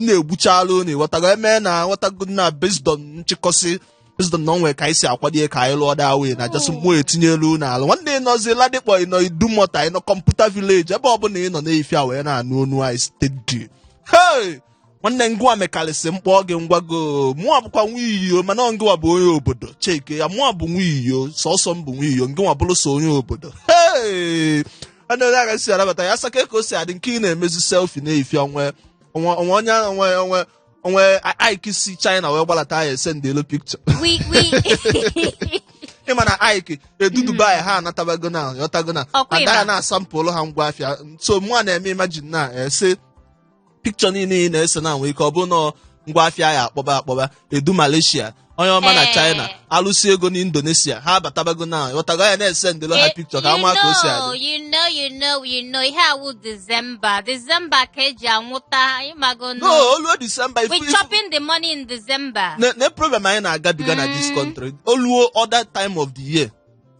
na-egbuchala unu ị ghọtago eme na aghọtago na based on nchịkọsị based on na o nwe ka anyị si akwadie ka anyị lụọ daa wee na just mụ etinyelu unu ala nwanne ị nọzi ladipo ị nọ idumota ị nọ computer village ebe ọbụla ị nọ n'afịa wee na-anụ onu anyị steady hey nwanne ngwa mekarịsị mkpọ gị ngwago mụọ bụkwa nwa iyo mana ọ ngịwa bụ onye obodo cheke ya mụọ bụ nwa iyo sọsọ m bụ nwa iyo ngịwa bụrụ so onye obodo hey onye aga si arabata ya asaka ka o si adị nke ị na-emezi selfie n'afịa onwe Ike si China wee gbalata ya esendelu picture ị ma na Ike edu Dubai ha anatabago na yọtago na ada ya na-asampụlụ ha ngwa afịa so mụ a na-eme imagine na ese picture niile ị na-ese na nwee ike ọ bụ na ọ ngwa afịa ya akpọba akpọba edu malaysia onye ọma na china alụsị ego n'indonesia ha abatabago na ghọtago ya na-esendelụ ha picture ka a ma ka o si adị you know ihe awụ December ka eji anwụta ịmago no nụ. o luo December ifu We ifu chopping the money in December. na na problem anyị na-agabiga na this country o luo other time of the year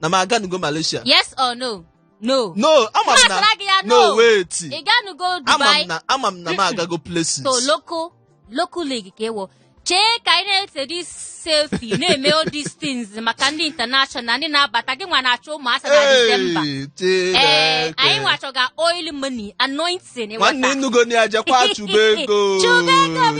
na m aganugo malaysia yes or no ama m na no wait ị ganugo dubai ama m na m agago places so local league ka ị wụ chee ka anyị na-ese this selfie na-eme all these things maka ndị international ndị na-abata gị nwa na-achọ ụmụ asa na December anyị nwa achọga oil money anoint si na nwanne ị nụgo na ya jekwa chụba ego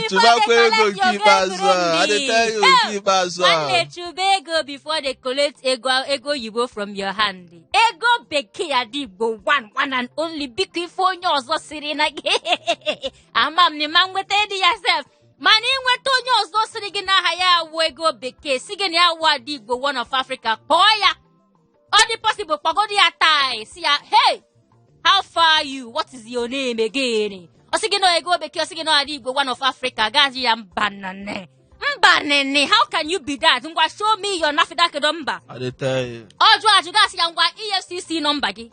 chụbakwa ego nke ikpeazụ a adịta ya nke ikpeazụ a nwanne chụba ego before they collect ego oyibo from your hand ego bekee ada igbo one and only biko ife onye ọzọ siri na gị ama m na ma nweta dị ya sef mana ị nweta onye ọzọ siri gị n'aha ya awụ ego bekee si gị na ya awụ ada igbo one of africa kpọọ ya ọ dị possible kpọgodi ya taa si ya hey how far are you what is your name again ọ sị gị na ọ ego bekee ọ sị gị na ọ ada igbo one of africa gaa sị ya mba nne mba nne how can you be that ngwa show me your nafdac number ọ jụ ajụ gaa sị ya ngwa efcc number gị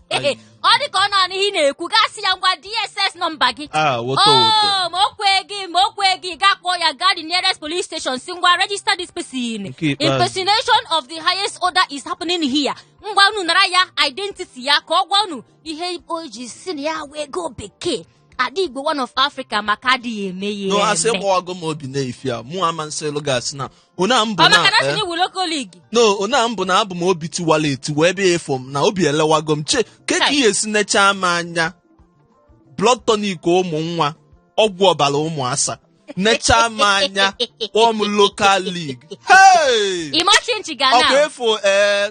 ọ dị ka ọ na-anụ ihe ị na-ekwu gaa sị ya ngwa dss number gị ma o kweghị ma o kweghị gaa kpọọ ya gaa the nearest police station si ngwa register this person impersonation of the highest order is happening here ngwa unu nara ya identity ya ka ọ gwa unu ihe o ji si na ya wụ ego bekee ada igbo one of africa maka adịghị eme ya no asị gbawago m obi n'afịa mụ ama nsị elu gasị na ona m bụ ọ maka na na asị eh, na ị wụ local league no ona m bụ na abụ m obi tiwala etiwa ebe ị fụ m na obi elewago m che ke ka ihe si nechaa m anya blood tonic ụmụ nwa ọgwụ ọbara ụmụ asa nechaa m anya kpọọ m local league hey! ịma chinchi ga ọkwa na efu ee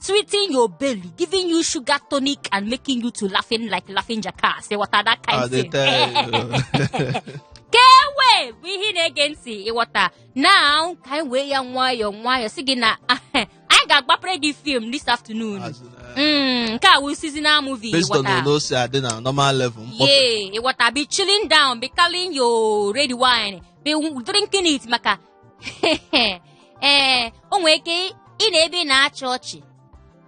sweetening your belly, giving you sugar tonic, and making you to laughing like laughing jackass. Ịghọta that kind of thing? I dey tell you. Kewe bụ ihe ị na-ege ntị ịghọta now ka anyị wee ya nwayọọ nwayọọ sị gị na anyị ga-agbapere gị film this afternoon. As in, uh, Mm, nke a wụ seasonal movie based on ịghọta. otu o si adị na normal level mkpọpe Yeah, ịghọta be chilling down be calling your red wine be drinking it maka ee o nwere ike ị nọ ebe ị na-achị ọchị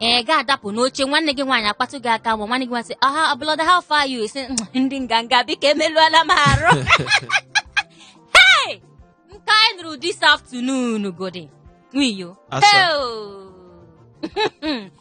ị ga-adapụ n'oche nwanne gị nwaanyị akpatụ gị aka ma nwanne gị nwaanyị sị aha brother how far you isi ndị nganga biko emeluola m arụ hey nke anyị nụrụ this afternoon godi nwiyo Asa. Heo!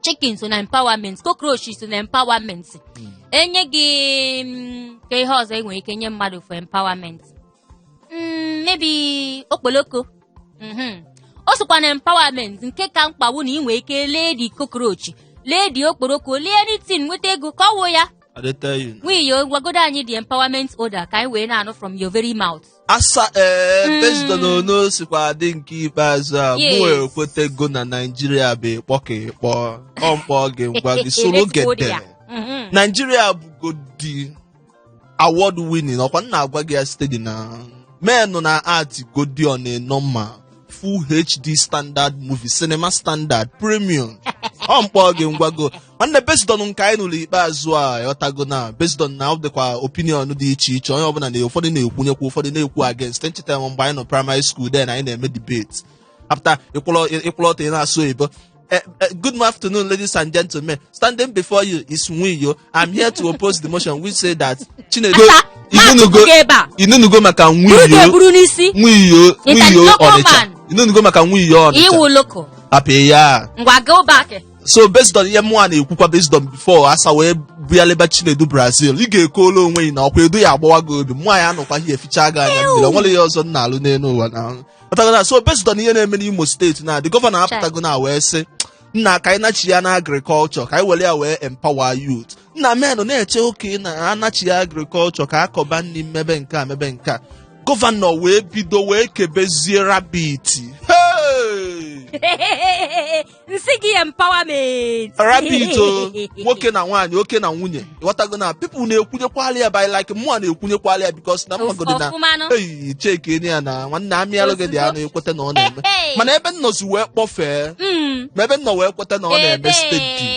chicken so na empowerment cockroach so na empowerment hmm. enye gị mm, kee ihe ọzọ enwere ike nye mmadụ for empowerment mm, maybe okpoloko mm-hmm. o sokwa na empowerment nke ka mkpa wụ na ị nwere ike lee the cockroach lee the okporoko lee anything nweta ego ka ọ wụ ya nwiyo gwagodo anyị the empowerment order ka anyị wee na-anụ from your very mouth asa ee Mm. based on onu o sikwa adị nke ikpeazụ a Yes. mụ ekwetego na naijiria bụ ịkpọ ka ịkpọ ọmkpọ gị ngwa gị soro gede Let's go there. Mhm. naijiria bụgodi award winning ọkwa m na-agwa gị ya steady na men na-act godi on a normal full hd standard movie cinema standard premium ọ mkpọ gị ngwago nwanne based on nke anyị nụrụ ikpeazụ a ghọtago na based on na ọ dịkwa opinion dị iche iche onye ọbụla na ụfọdụ na-ekwunyekwa ụfọdụ na-ekwu against nchetara m mgbe anyị nọ primary school then anyị na-eme debate apụta ị kwụlụ ọtọ ị na-asụ oyibo Uh, uh, good afternoon, ladies and gentlemen. Standing before you is Nwiyo. I'm here to oppose the motion which say that Chinedu Asa, Inunugo na-atụtụ ebe a. Ị nụnugo maka Buru Nwiyo ga-eburu n'isi. Nwiyo Nta Nwiyo nnukwu Ọnịcha. man. Ị nụnugo maka Nwiyo Ọnịcha. Iwu loko. Hapụ ya. Ngwa go back. So based on ihe mụnwa na-ekwukwa based on before asa wee bịaleba Chinedu Brazil ị ga-ekwulu onwe gị na ọkwa Edu ya-agbawa gị obi mụnwa ya-anọkwa ihe eficha gị anya mmiri o nwere ihe ọzọ m na-alụ n'elu ụwa na ghọtago na so based on ihe na-eme n'Imo steeti na the gọvanọ apụtago na wee sị nna ka anyị nachi ya na agriculture ka anyị were ya wee empower youth nna men na-eche okay na anachi ya agriculture ka akọba nri mmebe nke a mebe nke a gọvanọ wee bido wee kebezie rabbit hey! nsị gị empowerment rabbit o nwoke na nwaanyị oke na nwunye ghọtago na people na-ekwunyekwala ya by like mụa na-ekwunyekwala ya because na mmagodo na ọfụmanụ eyi check eyi ya na nwanne amịalụ gị the anụ ị kweta na ọ na-eme mana ebe nnọzi wee kpọfee Mm. ma ebe nnọ wee kweta na ọ na-eme Ebe. steeti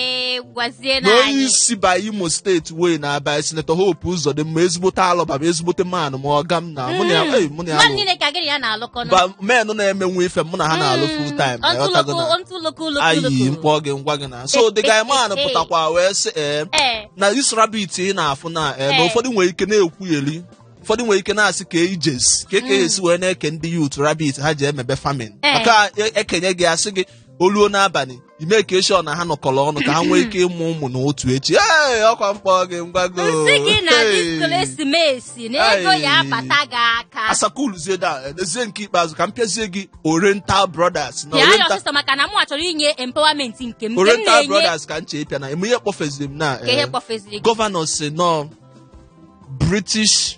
gwazie na na onye anyị isi ba imo steeti wee na-abụ sinetọ hope ụzọdịmma ezigbote alobam ezigbote man m ọga m na mụ na ya ei, mụ na ya mmadụ nọ. niile ka gịrị ya na-alụkọ nụ. ba menụ na-emenwu ife mụ na ha na-alụ full time na Ọntụ ịghọtago loko, na ọntụ loko, loko, ayi loko. m kpọọ gị m gwa gị na so the guy man pụtakwa wee sị ee Ee, na this rabbit ị na-afụ na ee na Ee. ụfọdụ nwere ike na-ekwugheri ụfọdụ nwere ike na-asị ka ejesi ka eke esi wee na-eke ndị youth rabbit ha ji emebe farming Ee. maka e kenye gị a sị gị o luo n'abalị ị make sure na ha nọkọrọ ọnụ ka ha nwee ike ịmụ ụmụ na otu echi ee ọkwa m kpọọ gị m gwa gị m sị gị na Hey. this ekelesimesi na ego ya Hey. abata gị aka asakuluzie da ezie nke ikpeazụ ka m pịazie gị oriental brothers na pịa ya oriental ọsịsọ maka na mụ achọrọ inye empowerment nke m nke m oriental na-enye brothers ka nche ịpịa na eme ihe kpọfeziri m na ka ihe eh, kpọfeziri gị gọvanọ si nọ british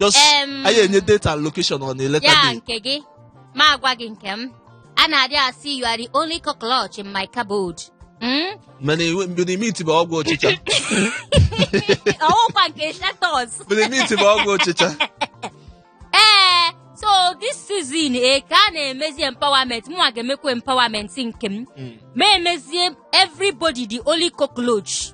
just Em. anyị enye date and location on a later day gị nke gị ma agwa gị nke m a na-adị asị you are the only cockroach in my cupboard Mm? mana iwe- mgbe imiti bụ ọgwụ ọchịcha ọ wụkwa nke shatos mgbe imiti bụ ọgwụ ọchịcha ee so this season e ka a na-emezi empowerment mụnwa ga-emekwa empowerment nke m ma emezie everybody the only cockroach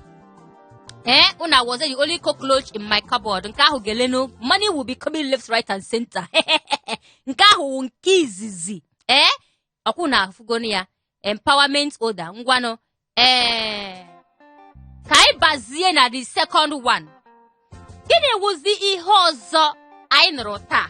ee unu awụzie the only cockroach in my cupboard nke ahụ ga-elenu money will be coming left right and center nke ahụ wụ nke izizi ee ọkwa unu afụgonu ya empowerment order ngwanụ ee ka anyị bazie na the second one gịnị wụzi ihe ọzọ anyị nụrụ taa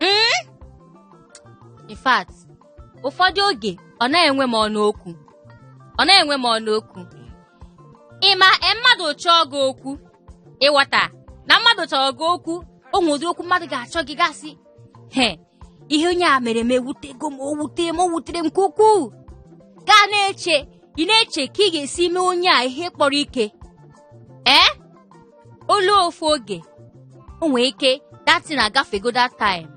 mm? in fact ụfọdụ oge ọ naghị enwe m ọnụ okwu ọ naghị enwe m ọnụ okwu ị ma e, mmadụ chọọ gị okwu ị ghọta na mmadụ chọrọ gị okwu o nwere ụdị okwu mmadụ ga-achọ gị gị asị he ihe onye a mere m ewutego m o wutere m o wutere m nke ukwuu gị ana-eche ị na-eche ka ị ga-esi mee onye a ihe kpọrọ ike ee eh? o lu ofu oge o nwee ike that thing agafego that time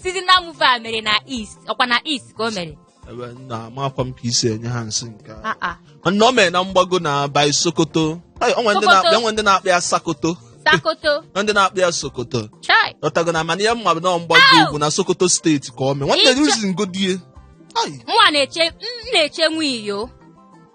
seasonal movie a mere na east ọkwa na east ka o mere ebe na amakwa m ka i si enye ha nsị nke a. Ah, ah. mana o mere na mgbago na be anyị sokoto Ai, o nwere ndị na-akpọ- Sokoto. o nwe ndị na-akpọ ya sakoto sakoto na ndị na-akpọ ya sokoto chai ghọtago na mana ihe m ma bụ na mgbago Au! ugwu na sokoto steeti ka o mee nwanne Ịchọ- reason godi ya Ai, mụnwa na-eche m na-eche nwayọ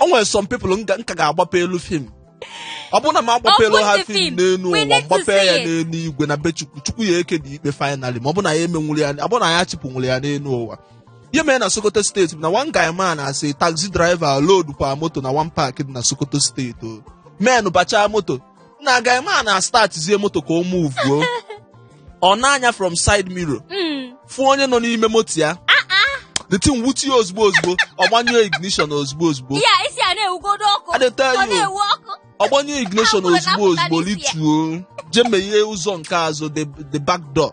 o nwere some people m ga- m ka ga-agbapelụ film ọ bụrụ na m agbapelụ Open ha the film film. n'elu We ụwa need to m gbapee ya see it. n'elu igwe na be chukwu chukwu ya-ekedị ikpe finally ma ọ bụ na ya emenwuru ya ọ bụ na ya chịpụnwụrụ ya n'elu ụwa ihe mere na sokoto steeti bụ na one guy man a sị taxi driver load kwa moto na one park dị na sokoto steeti o men bachaa moto na guy man na start zie moto ka o move o ọ nee anya from side mirror Mm. fụ onye nọ n'ime moto ya the thing wute ya ozugbo ozugbo ọ gbanyụọ ignition ozugbo ozugbo Ya isi a na-ewugodo ọkụ. I dey tell Ọ you. na-ewu ọkụ. ọ gbanyụọ ignition Ah, ozugbo ozugbo apụta n'isi ya. lituo jee meghee ụzọ nke azụ the the back door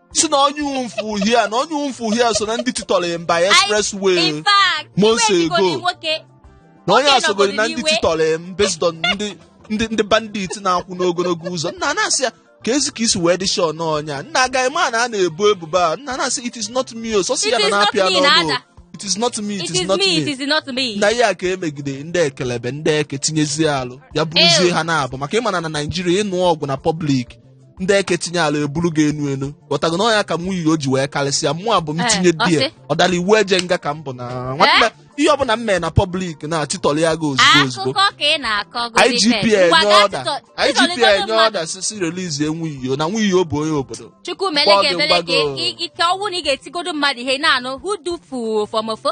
si na onye ụmfụ uhie a na onye ụmfụ uhie a so na ndị titọrọ ya mba expressway in fact months mgbe ejigoro ago. nwoke na onye Oge asogoro na ndị nọgoro n'iwe. titọrọ ya m based on ndị ndị ndị bandit na-akwụ n'ogologo ụzọ nna na-asị ya ka e zi ka i si wee dị shọ na ọ nya nna agaghị ma na a na-ebo ebubo a nna na-asị it is not me o sọsị It ya na is not na-apịa me, n'ọnụ na-ada. o. it is not me it is not me it me is not me na ihe a ka e megide ndị ekelebe ndị eke tinyezie alụ ya bụrụzie Ew. ha na-abụ maka ị ma na na naijiria ịnụ ọgụ na pọblik ndị eke tinye ala eburu gị enu enu ghọtago na ọ nya ka nwuiyo ji wee karịsịa mụ abụ m Eh, tinye ọ die sị? ọ dara iwu eje nga ka m bụ na nwanne ihe ọbụla m mere na pọblik na-achịtọrọ ya gị ozugbo ozugbo akụkọ ka ị na-akọ IGP enye ọda IGP enye ọda si si relizie nwuiyo na nwuiyo bụ onye obodo chukwu mele Mgbago, ga-emele ka mgbago. ị- ị- ike ọnwụ na ị ga-etigodo mmadụ ihe ị na-anụ who do for for mofo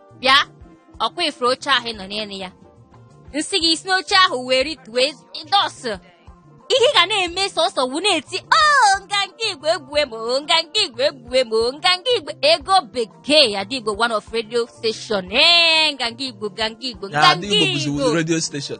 bịa ọkwa ị fụrụ oche ahụ ị nọ n'elu ya m sị gị si n'oche ahụ wee rituo dọsụ ihe ị ga na-eme sọsọ wu na-eti o nganga igbo egbue m o nganga igbo egbue m o nganga igbo ego bekee ada igbo one of radio station ee nganga igbo nganga igbo Ya nganga adịghị igbo bụzi igbo redio steshọn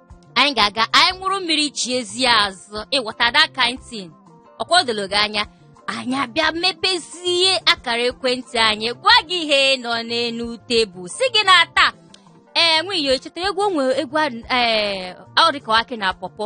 anyị ga-aga anyị ṅụrụ mmiri chiezie azụ ị ghọta that kind thing ọkwa o doro gị anya anyị abịa mepezie akara ekwentị anyị gwa gị ihe nọ n'elu tebụl si gị na taa ee nwuiyo echeta egwu o nwe egwu a- ee ọ dịka akị na pọpọ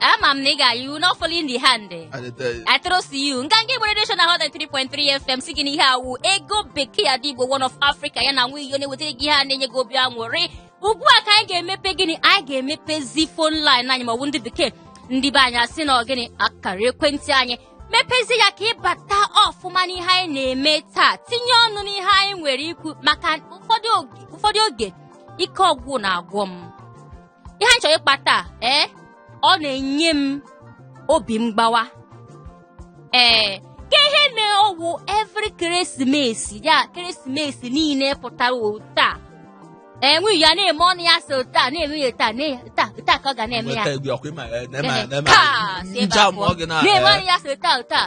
ama m na ị ga-ayị you not fall in the hand I dey tell you. I trust you nganga Igbo Radio Show na Hot 3.3 FM si gị n'ihe a wụ ego bekee ada Igbo one of Africa ya na nwa iyo na-ewetara gị ihe a na-enye gị obi aṅụrị ugbu a ka anyị ga-emepe gịnị anyị ga-emepezi phone line anyị ma ọ bụ ndị bekee ndị be anyị asị na ọ gịnị akara ekwentị anyị mepezi ya ka ị bata ọfụma n'ihe anyị na-eme taa tinye ọnụ n'ihe anyị nwere ikwu maka ụfọdụ oge- ụfọdụ oge ike okwu na-agwụ m ihe anyị chọrọ ịkpa taa ee ọ na-enye m obi mgbawa ee ka ihe mere ọ wụ every keresimesi ya keresimesi niile pụtara ụta enwe ya na-eme ọnụ ya so taa na-eme ya taa na- taa taa ka ọ ga na-eme ya Weta egwu ọkụ ịma, eh, na-eme- Ehe, na-eme- taa, si ebe a njam pụọ. ọ gị na- na-eme eh, ọnụ ya so taa taa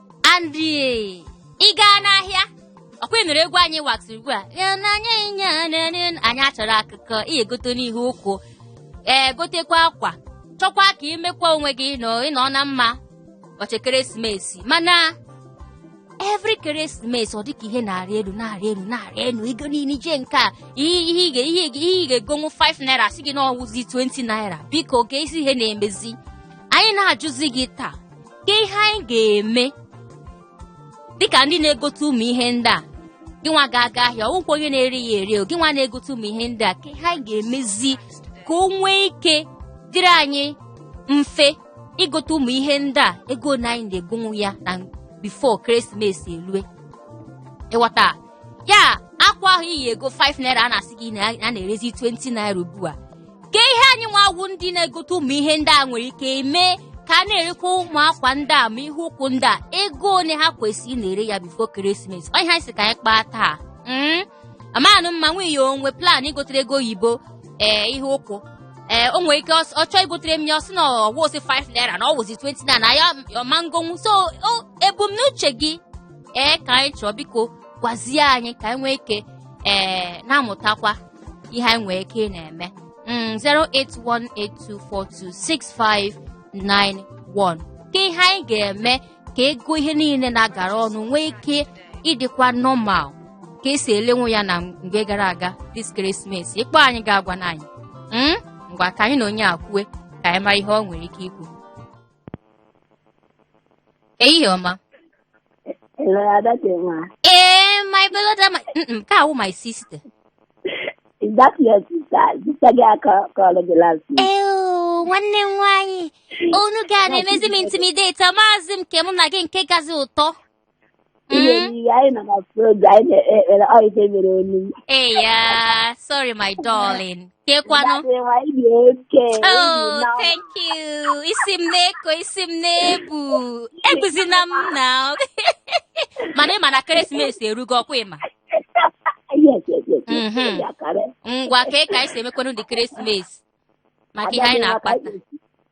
and ị gaa n'ahịa ọkwa ị nụrụ egwu anyị waxi ugbu a Ya na anyị nye nene, anyị achọrọ akụkọ ị gotenụ ihe ụkwụ ee gotekwa akwa chọkwa ka imekwa onwe gị nọ ịnọ na mma ụbọchị ekeresimesi mana every ekeresimesi ọ dịka ihe na-arị elu na-arị elu na-arị elu ego niile ije nke a ihe ihe ị ga- ihe ị ga- ihe ị ga-egonwu 5 naira sị gị na ọwụzi 20 naira biko ke isi ihe na-emezi anyị na-ajụzi gị taa ke ihe anyị ga-eme dịka ndị na-egote ụmụ ihe ndị a gị nwa ga-aga ahịa ọ wụkwa onye na-ere ya ere gị nwa na-egote ụmụ ihe ndị a ke ihe anyị ga-emezi ka o nwee ike dịrị anyị mfe igote ụmụ ihe ndị a ego na anyị na-egonwu ya na before ekeresimesi elue ịghọta ya akwa ahụ iyi ego 5 naira a na-asị gị na a na-erezi 20 naira ugbu a ke ihe anyị nwa wụ ndị na-egote ụmụ ihe ndị a nwere ike eme ka a na-erekwa ụmụ akwa ndị a ma ihe ụkwụ ndị a ego ole ha kwesịrị na-ere ya before ekeresimesi ọ ihe anyị sị ka anyị kpaa taa Mm. amanụ m ma nwunye ya o nwe plan igotere ego oyibo ee ihe ụkwụ ee o nwere ike ọ ọ chọọ igotere m ya ọ sị na ọ wụhọzi 5 naira na ọ wụzi 20 naira na ya ama egonwu so o- ebumnuche gị ee ka anyị chọọ biko gwazie anyị ka anyị nwee ike ee na-amụtakwa ihe anyị nwee ike ị na-eme Mm, 08182426591 ke ihe anyị ga-eme ka ego ihe niile na-agara ọnụ nwee ike ịdịkwa normal ka esi elenwu ya na mgbe gara aga this Christmas ị kpọọ anyị gị agwanụ anyị Mm, ngwa ka anyị na onye a kwue ka anyị mara ihe ọ nwere ike ikwu ehihie ọma Hello, Ada Chima. Ee, my brother, my... Mm-mm, ka a wụ my sister. Is that your sister? Sister gị a kpọrọ gị last week. Ew, nwanne m nwaanyị. Onu gị a na-emezi m intimidate, amaazị m nke mụ na gị nke kazi ụtọ. Ị Mm. na-eyi anyị nọ na program anyị na-ekpere ọ ife mere onu. Hey, yeah. Sorry, my darling. Kekwanụ. Daddy, nwa ị dị oke. Oh, thank you. Isi m na-eko, isi m na-ebu. Ebuzina m na. Mana ị ma na Keresimesi erugo ọkwa ịma. Yes, yes, yes. Mhm. Ya kare. Ngwa kee ka anyị si emekwanụ this Keresimesi. Maka ihe anyị na-akpa taa.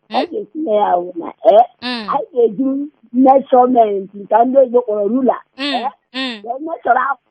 Ọ ga-esi na ya wụ na eh, Mm, anyị ga-eji measurement nke ndị oyibo kpọrọ ruler mm, mm. wee meshọrọ akwụ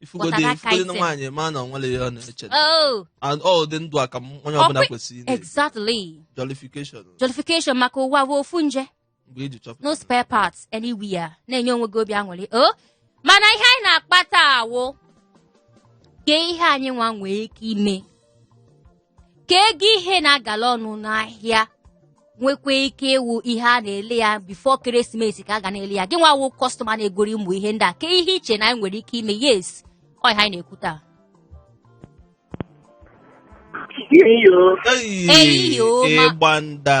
ifugodi Kpọtara aka ifugodi na ite. nwaanyị ma na onwere ihe ọ na-eche oh And ọ dị ndụ a ka m- onye ọbụla Ọkwa- kwesịrị ị na-eji. exactly jollification jollification maka ụwa bụ ofu nje mgbe iji chọpụta no spare parts anywhere na-enye onwe gị obi aṅụrị o mana ihe anyị na-akpa taa wụ ke ihe anyị nwa nwee ike ime ka ego ihe na-agala ọnụ n'ahịa nwekwa ike ịwụ ihe a na-ele ya before ekeresimesi ka a ga na-ele ya gị nwa wụ customer na-egori ụmụ ihe ndị a kee ihe i che na anyị nwere ike ime yes ọ ihe anyị na-ekwu taa Iyo. Eyi Eyi o, ma- ịgba nda.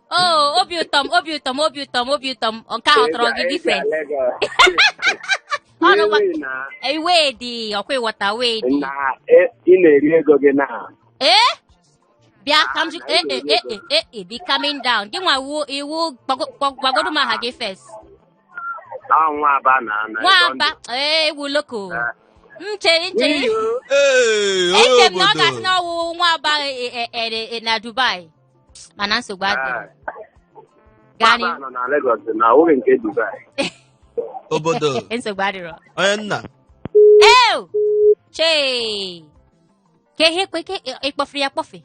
Oh, obi ụtọ m, obi ụtọ m, obi ụtọ m, obi ụtọ m. Nke ahụ tọrọ gị different. Ọnụ gwa iwe dị ọkwa ị ghọta wee dị. na e- ị na-eri ego gị na Ee? Bịa ka m jụ Ah, ee na ee ego. ee ee ee be coming down. Gị nwa ị wụ ị wụ gwago- gwago- gwagodu m aha gị first. ọ nwa Aba na na Nwa Aba ee ewu loko. M chere m chere Ee, onye eche m na ọ obodo. ga-asị na ọ wụ nwa Aba e- e- e- e- na Dubai. mana nsogbu adịghị gaa n'ihu nọ na Lagos na oge nke Dubai obodo nsogbu adịrọ onye nna ew chee ka ihe kwe ka ịkpọfere ya kpọfe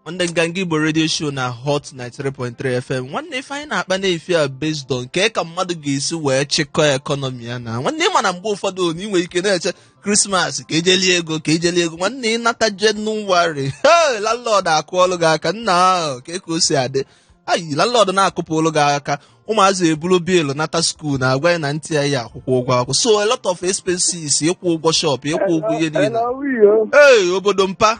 nwanne Nganga Igbo radio show na Hot 93.3 FM nwanne ife anyị na-akpa n'efifie a based on kee ka mmadụ ga-esi wee chịkọọ economy ya na nwanne ị ma na mgbe ụfọdụ na ị nwere ike na-eche Christmas ka ejeli ego ka ejeli ego nwanne ị nata January he landlord akụọlụ gị aka nnaa kee ka o si adị ayi landlord na-akụpụlụ gị aka ụmụazị ebulu bill nata school na-agwa ya na ntị ya ya akwụkwọ ụgwọ akwụkwọ so a lot of expenses ịkwụ ụgwọ shop ịkwụ ụgwọ ihe niile Hello, Rio. ee obodo mpa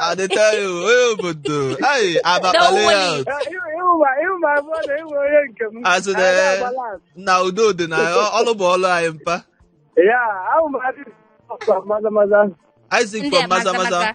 I dey tell you, onye obodo. Ayi, abakpale ya. A sị na na udo dị na ọ- ọlụ bụ ọlụ anyị mpa. Isaac Ndị from Maza Maza. Maza.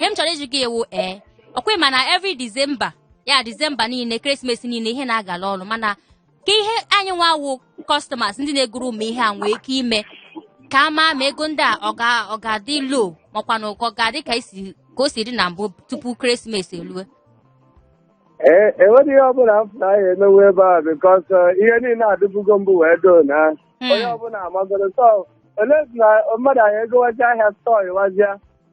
ihe m chọrọ ịjụ gị wụ ee ọkwa ị ma na every December ya December niile ekeresimesi niile ihe na-agala ọnụ mana kee ihe anyị nwa wụ customers ndị na-egoro ụmụ ihe a nwee ike ime ka a ma ma ego ndị a ọ ga-adị low makwa na ọ ga-adị ka o si dị na mbụ tupu ekeresimesi elue enweghị e ihe ọbụla m na anyị emewe ebe a because uh, ihe niile adịbugo mbụ wee doo na hmm. onye ọbụla amagoro sọ ole na mmadụ anyị egowazi ahịa store ịwazịa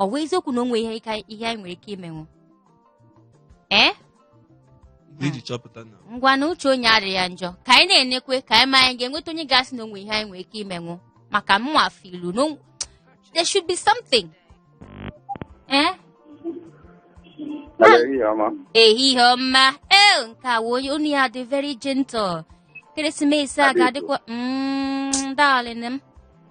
ọ bụ eziokwu na o nweghị ihe ka- ihe anyị nwere ike imenwu ee iji chọpụta na ngwanụ uche onye adịghị ya njọ ka anyị na-enekwe ka anyị ma anyị ga-enweta onye ga-asị na o nwe ihe anyị nwere ike imenwu maka mụnwa filu na o- there should be something ee ehihie ọma ehihie ọma ee nke a wụ onye onu ya dị very gentle ekeresimesi a ga-adịkwa mm, darling m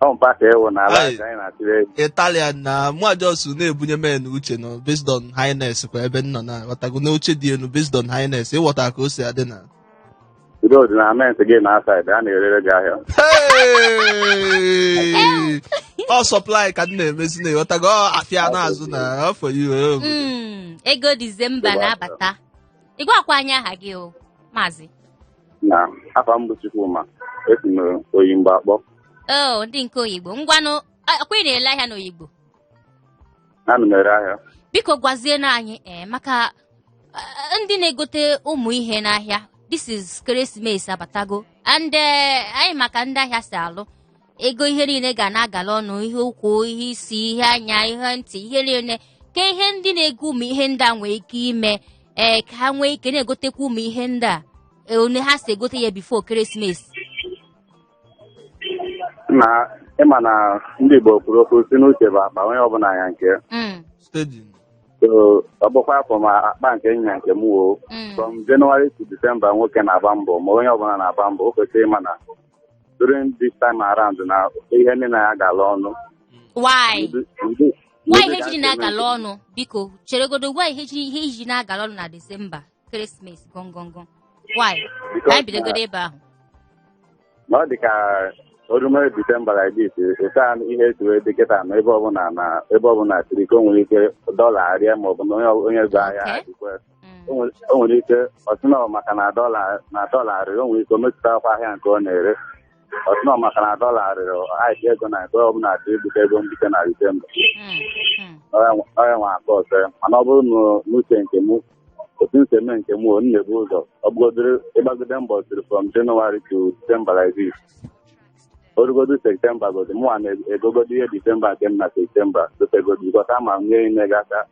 ọmpa ka ewu na ala Aye. ka anyị na-atụrụ egwu italian na mwajosu na-ebunye men uche nọ based on highness kwa ebe nọ na ghọtago na uche dị enu based on highness ịghọta ka o si adị na udo dị na ment gị na aside a na-erere gị ahịa Hey! ọ supply ka m na-emezi na ịghọtago ọ afịa na-azụ na afọ iwe Mm, ego disemba na-abata ị gwakwa anyị aha gị o maazị na afa m bụ Chukwuma esi m Oyigbo akpọ o ndị nke Oyigbo ngwanụ a- ọkwa ị na-ele ahịa n'Oyigbo ana m ere ahịa biko gwazienụ anyị ee maka eh, ndị na-egote ụmụ ihe n'ahịa this is ekeresimesi abatago and eh, anyị ma ka ndị ahịa si alụ ego ihe niile ga na-agala ọnụ ihe ụkwụ ihe isi ihe anya ihe ntị ihe niile kee ihe ndị na-ego ụmụ ihe ndị a nwee ike ime ee ka ha nwee ike na-egotekwa ụmụ ihe ndị a ee, one ha si egote ya before ekeresimesi na ịma na ndị Igbo kwuru okwu sị na uche bụ akpa onye ọbụla nya nke Mm, stejin so ọ bụkwa afọ ma akpa nke nya nke m woo mm. from January to December nwoke na-agba mbọ ma onye ọbụla na-agba mbọ o kwesịrị ịma na during this time around na ihe niile na-agala ọnụ why ihe ji na-agala ọnụ biko cheregodo why ihe ji na-agala ọnụ na disemba ekeresimesi gọngọngọ why Because ka anyị bidogodo ebe ahụ na ọ dị ka o rume disemba like this ụta ihe etu wee dị kịta na ebe ọbụla na ebe ọbụla siri ka o nwere ike dọla arịa maọbụ na onye onye zụ ahịa Okay. adịkwa Mm. o nwere- o nwere ike ọ sị na ọ maka na dọla na dọla rịrị o nwere ike o metụtakwa ahịa nke ọ na-ere ọ sị na ọ maka na dọla rịrị ahịa ego na ego ọbụla atụ ibute ego mbute na December Mm. Mm. ọya nwa aka ọzọ ya mana ọ bụrụ na n'uche nke mụ otu m si eme nke mụ m na-ebu ụzọ ọ bụgodoro ịgbagide mbọ siri from January to December like this o rugodo September godo mụnwa na-egogodo ihe December nke m na September dotegodo bikọta ma m nye ime gị aka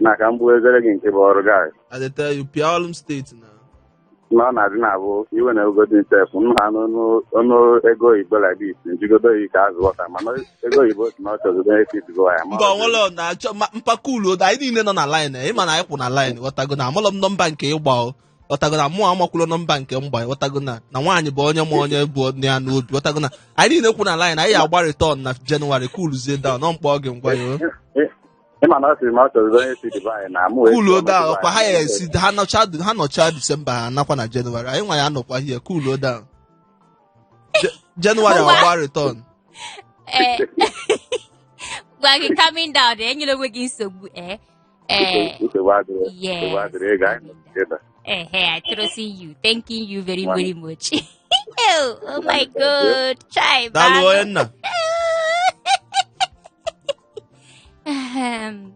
na ka m bụ ezere gị nke bụ ọrụ gị I dey tell you, pịa ọlụ m steeti na. na ọ na-adị na-abụ iwe na ugodi nsef m ha n'ọnụ ọnụ ego oyibo like this njigodo oyi ka azụ wọta mana ego oyibo si na ọ chọzụ onye fit go ya ma Mba ọnwụlọ na-achọ ma- mpa kuluo anyị niile nọ na line ịma na anyị kwụ na line ghọtago na amalọ m nọmba nke ị gba o. ghọtago na mụ amakwụlọ nọmba nke m gba ghọtago na na nwaanyị bụ onye ma onye bụ nne ya n'obi ghọtago na anyị niile kwụ na line anyị agba return na jenụwarị kuluzie down ọ mkpọ gị ngwa ya ịma na ọ sịrị ma ọ chọrọ onye si Dubai na mụ wee kuluo down ọkwa ha ya esi ha nọcha ha nọcha disemba ha nakwa na jenụwarị anyị nwa ya anọkwa hie kuluo down Je- jenụwarị Ngwa. agba return ee gwa gị calming down enyela onwe gị nsogbu ee Eh, nsogbu adịrị Yes. nsogbu adịrị ego anyị nọ together. eh, eh, I trust in you. Thanking you very, Wow. very much. oh, oh my Thank you. God. Chai, daalụ Bago. onye nna Ahem.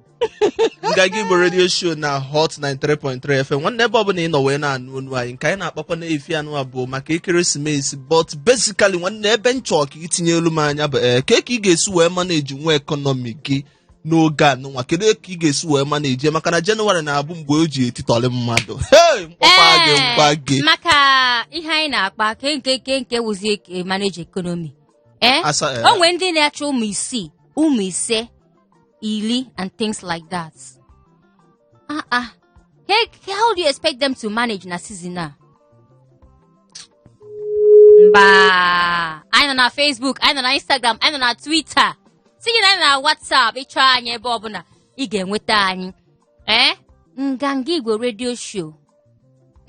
nganga igbo redio show na hot 93.3 fm nwanne ebe ọbụla ị nọ wee na-anụ onu anyị nke anyị na-akpakwa n'efifie a nụwa bụ maka ekeresimesi but basically nwanne ebe m chọọ ka i tinyelu m anya bụ ee ka ka ị ga-esi wee manage nwa ekọnọmi gị n'oge a nụnwa kedu ka ị ga-esi wee manage maka na jenụwarị na-abụ mgbe o ji etitọrị mmadụ Hey, mkpọkwa gị Ee, mkpa gị maka ihe anyị na-akpa ke nke ke nke wụzi eke- manage economy ee Asa- eh, o nwere ndị na-achọ ụmụ isii ụmụ ise iri and things like that Ah ah. Hey, how do you expect them to manage na season a? Mba. Anyị nọ na Facebook, anyị nọ na Instagram, anyị nọ na Twitter. Tinye na anyị nọ na WhatsApp ị chọọ anyị ebe ọbụla ị ga-enweta anyị. Ee, nganga Igbo redio show.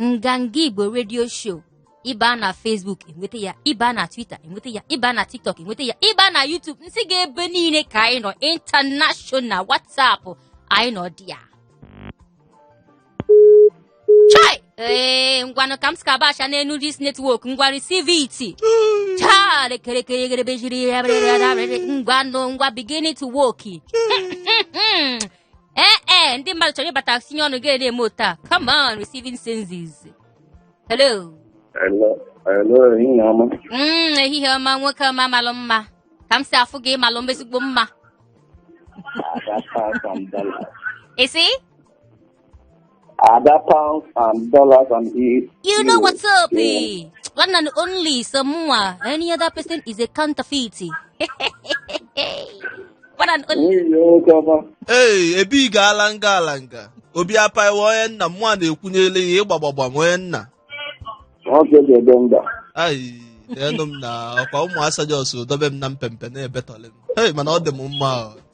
nganga igbo redio show ị baa na facebook enweta ya ị baa na twitter enweta ya ị baa na tiktok enweta ya ị baa na youtube m sị gị ebe niile ka anyị nọ international whatsapp anyị nọ there chai ee ngwanụ ka m skabasha n'elu this network ngwa receive it chale kerekeregerebe jiri ya ngwanụ ngwa begin to work ee ee ndị mmadụ chọrọ ịbata tinye ọnụ gị ana-eme otu a come on receiving senses hello Hello, hello, ehihie ọma. Mm, ehihie ọma nwoke ọma malụ mma ka m si afụ gị ị malụ m ezigbo mma Ada pounds and dollars. ị sị Ada pounds and dollars and e. You know what's up, eh? One and only someone. Any other person is a counterfeit. One and only. Nwunye nwoke ọma. ee ebe ị gaala nga ala nga obi apaiwa onye nna mụ a na-ekwunyele ya ịgbagbagba m onye nna Nwoke ga-ede mba. ai deenụ m na ọkwa ụmụ asa just dobe m na mpempe na-ebetọlị m hei mana ọ dị m mma o.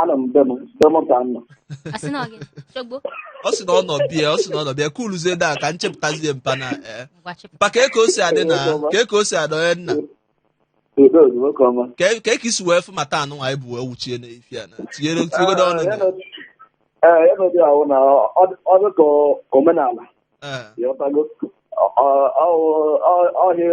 anọ m be m be m ka m nọ Ọ sị na ọ gị chogbo ọ sị na ọ nọ be ya ọ sị na ọ nọ be ya kuluzie down ka m chịpụtazie mpa na ee ngwa chịpụ mpa ka eke o si adị na ka eke o si adị onye nna udo dị nwoke ọma ka e- ka eke i si wee fụ matter a nụnwa anyị bu wee wuchie n'efifie a na tinyere tinyegodo ọnụ na ee ya nọdị ahụ na ọ dị ka omenala ee ya ọtago ọhịa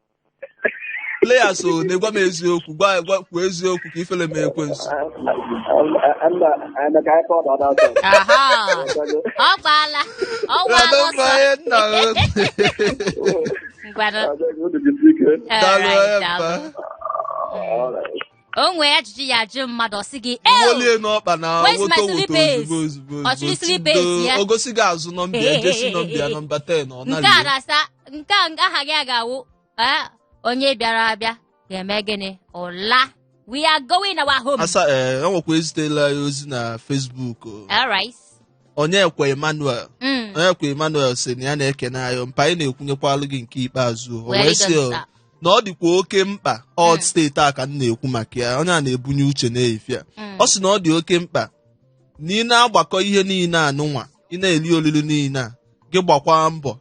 players o na-egwa m eziokwu gwa gwa kwuo eziokwu ka ifele mee ekwensu aha ọ gbaala ọ gbaala ọsọ Adambaye nna m. ngwanụ Daalụ, alright, Emma. daalụ. o nwee ajụjụ a ya-ajụ mmadụ ọ sị gị "Ew, wolie n'ọkpa na Where's my woto woto slippers? ozugbo ozugbo Ọ chụrụ ozugbo slippers tindo. ya? o gosi gị azụ nọmba ya jersey nọmba ya nọmba 10 ọ nke a nalie na-asa nke a nke aha gị a ga-awụ "Ah, onye bịara abịa ga-eme gịnị ụla we are going our home asa ee e nwekwa ezitela ya ozi na Facebook o. alright Onyekwe Emmanuel Mm. Onyekwe Emmanuel sị na ya na-ekene anyị mpa anyị na-ekwunyekwalụ gị nke ikpeazụ o Well, wee it sị doesn't o, stop. na ọ dịkwa oke mkpa ọd Mm. steeti a ka m na-ekwu maka ya onye a na-ebunye uche n'ife a Mm. ọ sị na ọ dị oke mkpa na ị na-agbakọ ihe niile anụnwa ị na-eli olili niile a gị gbakwaa mbọ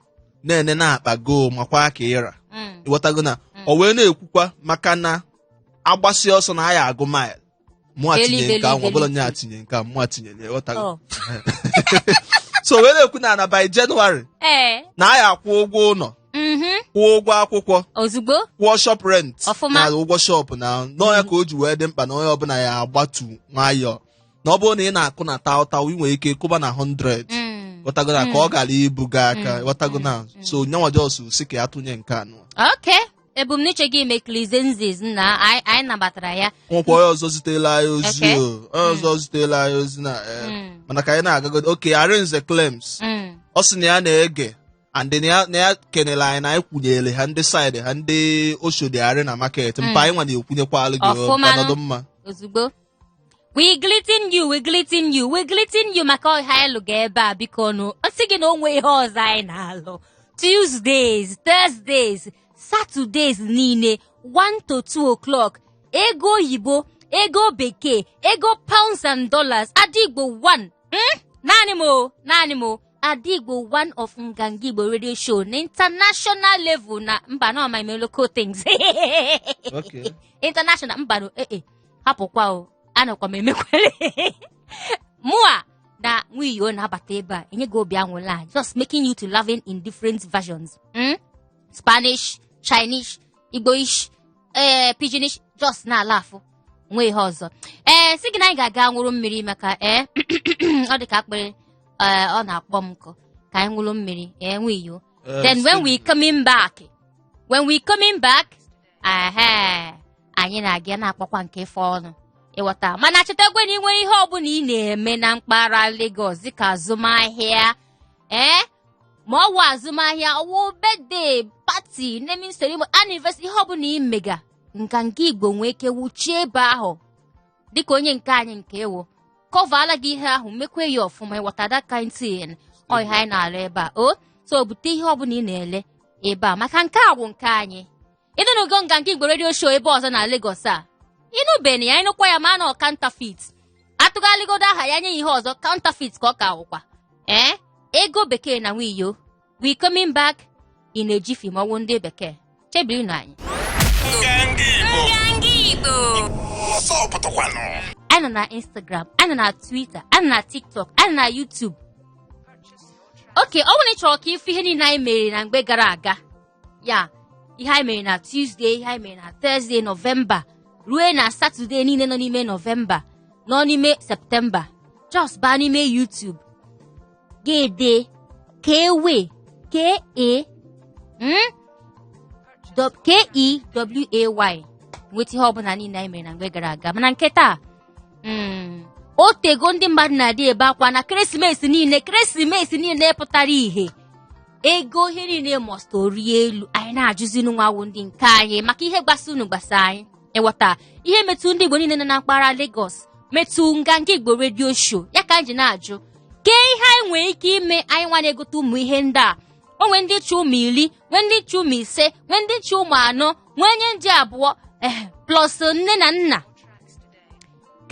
na-ene n'akpa gị o makwa ka ị ra Mm. ịghọtago na Mm. o wee na-ekwukwa maka na a gbasịa ọsọ na a ya-agụ mile mụ Eli, atinye nke ahụ eli, ọbụla eli. nye atinye nke a mụ atinye nye ghọtara Oh. so wee na-ekwu na na by January ee na a ya-akwụ ụgwọ ụlọ mhm kwụọ ụgwọ akwụkwọ ozugbo kwụọ shop rent Ọfụma. na ụgwọ shop na ọ nya ka o ji wee dị mkpa na onye ọbụla ya-agbatụ nwayọọ na ọ bụrụ na ị na-akụ na taụtaụ ị nwere ike kụba na 100 Mm. ghọtago na ka ọ ghara ibu gị aka ghọtago na so nyanwa just sị ka ya tụnye nke anụ okay ebumnuche gị mekili sense na anyị anyị nabatara ya nwekwa onye ọzọ zitela anyị ozi Okay. o onye ọzọ zitela anyị ozi na eh, Mm. mana ka anyị na-agagodo Oke Arinze Clems Mm. ọ sị na ya na-ege and na ya- na ya kenere anyị na anyị kwunyere ha ndị side ha ndị Oshodi Arena market mpa anyị nwa na-ekwunyekwalụ gị o, Ọfụma ka nụ. nọdụ mma ozugbo we greeting you we greeting you we greeting you maka ọha anyị lụga ebe a biko nụ ọ sị gị na o nwee ihe ọzọ anyị na-alụ tuesdays thursdays saturdays niile 1 to 2 o'clock ego oyibo ego bekee ego pounds and dollars Adaigbo 1 hmm? naanị m o naanị m o Adaigbo 1 of Nganga Igbo radio show na international level na mba na ọma ime local things Okay. international mba no eh eh hapụkwa o anọkwa m emekwere mụa na Nwiyo na-abata ebe a enye gị obi anwụlị a just making you to laughing in different versions mm? spanish chinese igboish ee eh, pidginish just na-ala afụ nwee ihe ọzọ ee eh, sị gị na anyị ga-aga nwụrụ mmiri maka ee eh, ọ dị ka akpịrị ọ na-akpọ m nkụ ka anyị nwụrụ mmiri ee Nwiyo then when we coming back when we coming back ehe anyị na-aga na-akpọkwa nke ife ọnụ ị ghọta mana chetakwa na ị nwere ihe ọbụla ị na-eme na mpaghara Lagos dịka azụmahịa ee ma ọ wụ azụmahịa ọ wụ birthday party naming ceremony anniversary ihe ọbụla ị mega Nganga Igbo nwee ike wuchie ebe ahụ dịka onye nke anyị nke ewo kọvala gị ihe ahụ mekwa ya ọfụma ịghọta that kind thing ọ ihe anyị na-alụ ebe a o so bute ihe ọbụla ị na-ele ebe a maka nke a bụ nke anyị ịnụnụgo nganga igbo redio show ebe ọzọ na Lagos a ịnụbeni ya ịnụkwa ya ma na ọ counterfeit atụgharịgodo aha ya nye ya ihe ọzọ counterfeit ka ọ ka awụkwa ee ego bekee na nwiyo we coming back in a jiffy ma ọ wụ ndị bekee chebirinụ anyị anyị nọ na instagram anyị nọ na twitter anyị nọ na tiktok anyị nọ na youtube okay ọ bụrụ na ị chọrọ ka ịfụ ihe niile anyị mere na mgbe gara aga ya ihe anyị mere na tuzdee ihe anyị mere na tọzdee nọvemba rue na satọde niile nọ n'ime nọvemba nọ n'ime septemba just baa n'ime youtube ga dee keway k e mm? Dọ- k e w a y nweta ihe ọbụla niile anyị mere na mgbe gara aga mana nke taa mm, o tego ndị mmadụ na-adị ebe akwa na ekeresimesi niile ekeresimesi niile pụtara ihe ego ihe niile must rie elu anyị na-ajụzi unu nwa wụ ndị nke anyị maka ihe gbasa unu gbasa anyị ịghọta ihe metụ ndị igbo niile nọ na mpaghara Lagos metụ nganga igbo redio show ya ka anyị ji na-ajụ kee ihe anyị nwere ike ime anyị nwa na-egote ụmụ ihe ndị a o nwee ndị chị ụmụ iri nwee ndị chị ụmụ ise nwee ndị chị ụmụ anọ nwee onye ndị abụọ eh, plus nne na nna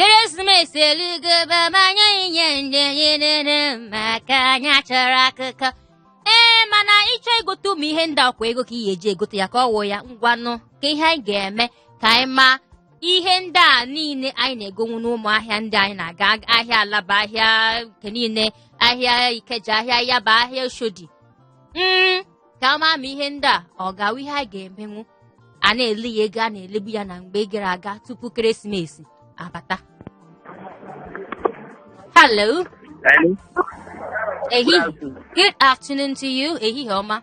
ekeresimesi eluigwe ebe anyị inye ndị anyị nene maka anyị achọrọ akụkọ ee mana ị chọọ igote ụmụ ihe ndị a ọ kwa ego ka ị ga-eji egote ya ka ọ wụ ya ngwanụ kee ihe anyị ga-eme ka anyị maa ihe ndị a niile anyị na-egonwu n'ụmụ ahịa ndị anyị na-aga ahịa alaba ahịa nke niile ahịa ikeja ahịa yaba ahịa oshodi mm ka a maa ma ihe ndị a ọ ga-awụ ihe a ga-emenwu a na-ele ya ego a na-elebu ya na mgbe gara aga tupu ekeresimesi abata hello Hello. ehihie good afternoon to you ehihie ọma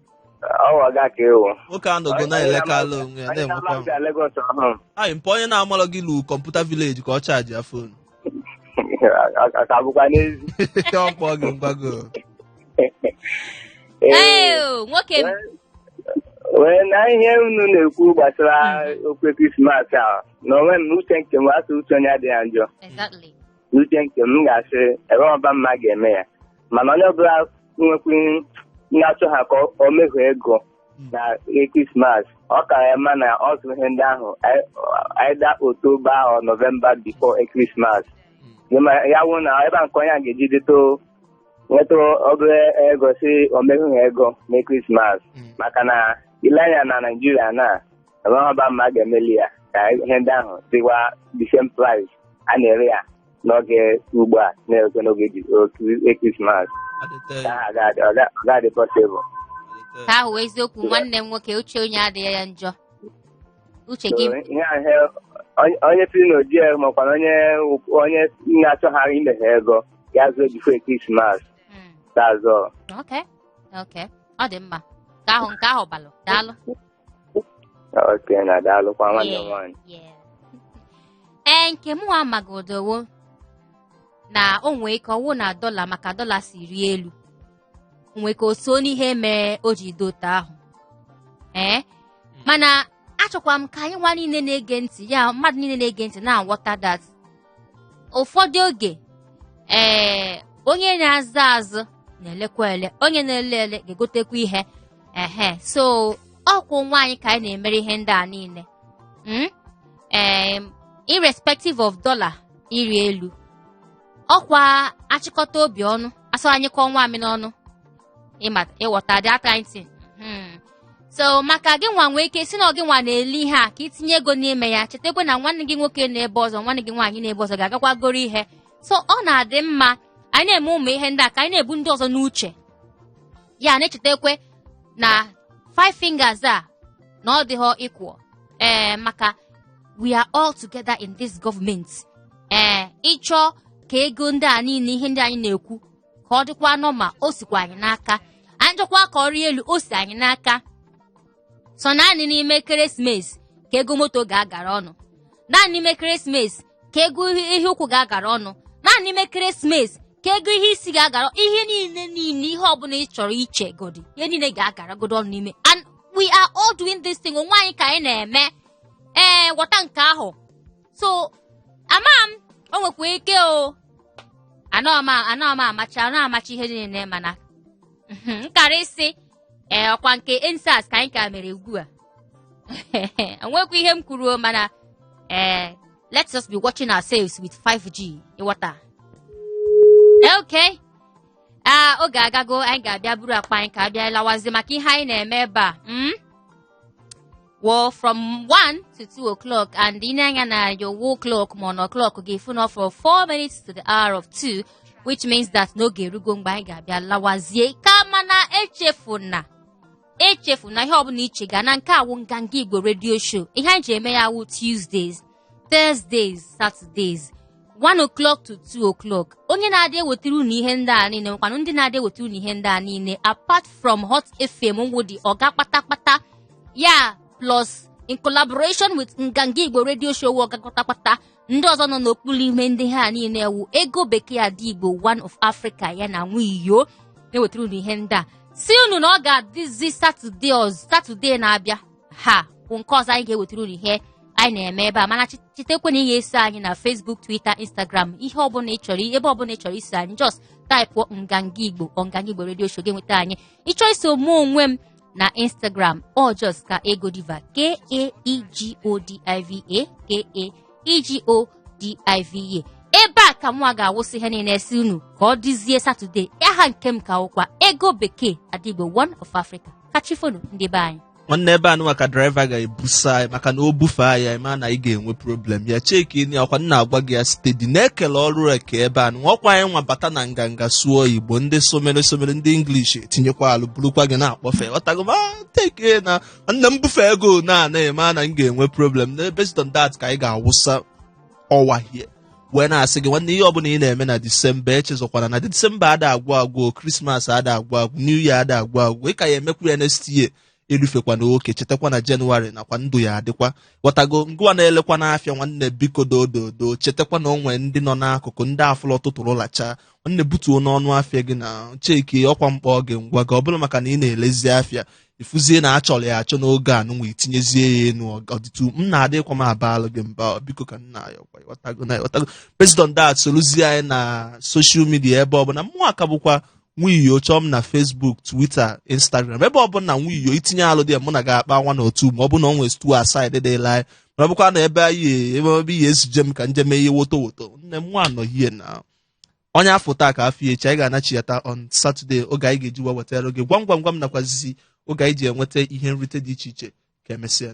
Ọwa ga ka ewu. nwoke a nọgo na-elekalụ onwe ya Anyị na-enwekwa na-abịa bịa Lagos ọhụrụ. anyị mpa onye na-amalụ gị lu kọmputa vileji ka ọ chaji ya fonu Ọ ka bụkwa n'ezi. ọ kpọọ gị ngwago Ee, nwoke m. wee na ihe unu na-ekwu gbasara okwu krismas a na enwe m uche nke m a sị uche onye adịghị njọ Exactly. n'uche nke m m ga-asị ebe ọba mma ga-eme ya mana onye ọbụla nwekwu na-achọ ha ka ọ- o mehu ego na krismas ọ ka ya mma na ọ zụrụ ihe ndị ahụ ei- either oktoba or nọvemba before krismas ya wụ na ebe a nke onye a ga-eji dịto nweta obere ego si o mehu ha ego na krismas maka na ile anya na naijiria na enweghị ọba mma a ga-emeli ya ka ihe ndị ahụ dịwa the same price a na-ere ya n'oge ugbu a na-erekwe n'oge ji- oge Christmas Adịte ka ha ga-adị ọ ga- ọ ga-adị possible adịte. ka ahụ wee eziokwu nwanne m nwoke uche onye adịghị ya njọ uche So, gị ihe ahụ onye- onye siri na o ji ego makwana onye onye na-achọghara imeghe ego ya zụọ before Christmas Mm, that's all. okay okay ọ dị mma ka ahụ nke ahụ balụ daalụ okay na daalụkwa nwanne m nwaanyị Yeah. ee nke mụ nwa magodo wụ na o nwee ike ọ wụ na dọla maka dọla si rie elu o nwee ka o so n'ihe mere o ji dị otu ahụ ee mana achọkwa m ka anyị nwa niile na-ege ntị ya mmadụ niile na-ege ntị na-aghọta that ụfọdụ oge ee onye na-azụ azụ na-elekwa ele onye na-ele ele ga-egotekwa ihe ehe so ọkwa onwe anyị ka anyị na-emere ihe ndị a niile mm? em, irrespective of dollar ịrị elu ọkwa achịkọta obi ọnụ a sị a nyụkọọ nwamịrị ọnụ ịma ịghọta that kind thing Hmm. so maka gị nwa nwee ike sị na ọ gị nwa na-ele ihe a ka i tinye ego n'ime ya chetakwa na nwanne gị nwoke nọ ebe ọzọ nwanne gị nwaanyị nọ ebe ọzọ ga-agakwa goro ihe so ọ na-adị mma anyị na-eme ụmụ ihe ndị a ka anyị na-ebu ndị ọzọ n'uche ya na-echetakwe na five fingers a na ọ dịghọ equal ee maka we are all together in this government ee ị chọọ ka ego ndị a niile ihe ndị anyị na-ekwu ka ọ dịkwa normal o sikwa anyị n'aka anyị chọkwa ka ọ rịa elu o si anyị n'aka sọ naanị n'ime ekeresimesi ka ego moto ga-agara ọnụ naanị n'ime ekeresimesi ka ego ihe ụkwụ ga-agara ọnụ naanị n'ime ekeresimesi ka ego ihe isi ga-agara ihe niile niile ihe ọbụla ị chọrọ iche godi ihe niile ga-agaragodo ọnụ n'ime and we are all doing this thing onwe anyị ka anyị na-eme ee ghọta nke ahụ so ama m o nwekwa ike o anọ m a- anọ m amacha anọ amacha ihe niile mana mhm, m kara ịsị ee ọkwa nke EndSARS ka anyị ka mere ugbu a enwekwa ihe m kwuru o, mana ee let's just be watching ourselves with 5G ịghọta okay ah oge agago anyị ga-abịa buru akpa anyị ka abịa lawazie maka ihe anyị na-eme ebe a mm? well from 1 to 2 o'clock and i nee anya na your wall clock ma ọ na clock ga-afụ na ọ fọrọ 4 minutes to the hour of 2 which means that n'oge erugo mgbe anyị ga-abịa lawazie kama na echefuna echefuna ihe ọbụla iche ga na nke a wụ nganga igbo radio show ihe anyị ji eme ya wụ tuesdays Thursdays, Saturdays 1 o'clock to 2 o'clock onye na-adị ewetara unu ihe ndị a niile nkwanụ ndị na-adị ewetara unu ihe ndị a niile apart from Hot FM wụ ndị Oga Kpatakpata ya plus in collaboration with Nganga Igbo Radio Show Oga Kpatakpata ndị ọzọ nọ n'okpuru ihe ndị a niile a wụ Ego Bekee Ada Igbo One of Africa ya na Nwiyo na-ewetara unu ihe ndị a sị unu na ọ ga-adịzi Saturday ọzọ Saturday na-abịa ha bụ nke ọzọ anyị ga-ewetara unu ihe anyị na-eme ebe a mana chetakwa na ị ga-eso anyị na Facebook Twitter Instagram ihe ọbụla ị chọrọ ebe ọbụla ị chọrọ iso anyị just type Nganga Igbo or Nganga Igbo Radio Show ga-enweta anyị ị chọọ iso mụ onwe m na Instagram ọ just Kaego Diva k a e g o d i v a k a e g o d i v a ebe a ka mụ a ga-awụsị ihe niile sị unu ka ọ dịzie Saturday aha nke m ka wụkwa Ego Bekee Ada Igbo One of Africa ka chi fo nụ ndị be anyị nwanne ebe a nụnwa ka driver ga-ebusa anyị maka na o bufee anyị anyị ma na anyị ga-enwe problem ya check nụ ọkwa m na-agwa gị ya steady na-ekele ọrụ eke ebe a nụ ọkwa anyị nwa bata na Nganga sụọ Igbo ndị somere somere ndị English etinyekwa alụ bụrụkwa gị na-akpọfe ghọtago ma ah, teke na nna m bufeego na-anaghị ma na m ga-enwe problem na based on that ka anyị ga-awụsa ọwahie wee na-asị gị nwanne ihe ọbụla ị na-eme na December echezọkwana na December ada agwụ agwụ Christmas ada agwụ agwụ new year ada agwụ agwụ ị ka ya-emekwu ya next year erufekwana oke chetakwa na January nakwa ndụ ya adịkwa ghọtago ngwa na-elekwa n'afịa nwanne biko doododo chetakwa na o nwe ndị nọ n'akụkụ ndị afụlọ tụtụrụ lacha nwanne butuo n'ọnụ afịa gị na-acheckikwa akpa gị ngwa gị ọbụla maka na ị na-elezi afịa efuzie na achọrọ ya achọ n'oge a nụnwa itinyezie ya enu ọdịtu nna adịkwa m abalụ gị mba biko ka nna ya ọkwa ị ghọtago na ị ghọtago based on that soluzie anyị na social media ebe ọbụla mụwa ka bụkwa Nwiyo chọọ m na Facebook Twitter Instagram ebe ọbụla Nwiyo itinye alụ dị mụ na ga-akpa nwa na otu ma ọ bụ na ọ nwee stu aside dịla anyị ma ọ bụkwa na ebe anyị ebe ebe ihe ezije m ka m jeme ihe woto woto nne m nwa anọghie na onye a fụ taa ka a fụ echi anyị ga-anachighata on Saturday oge anyị ga-eji wee wetara oge gwam gwam gwam nakwazi oge anyị ji enweta ihe nrite dị iche iche ka emesịa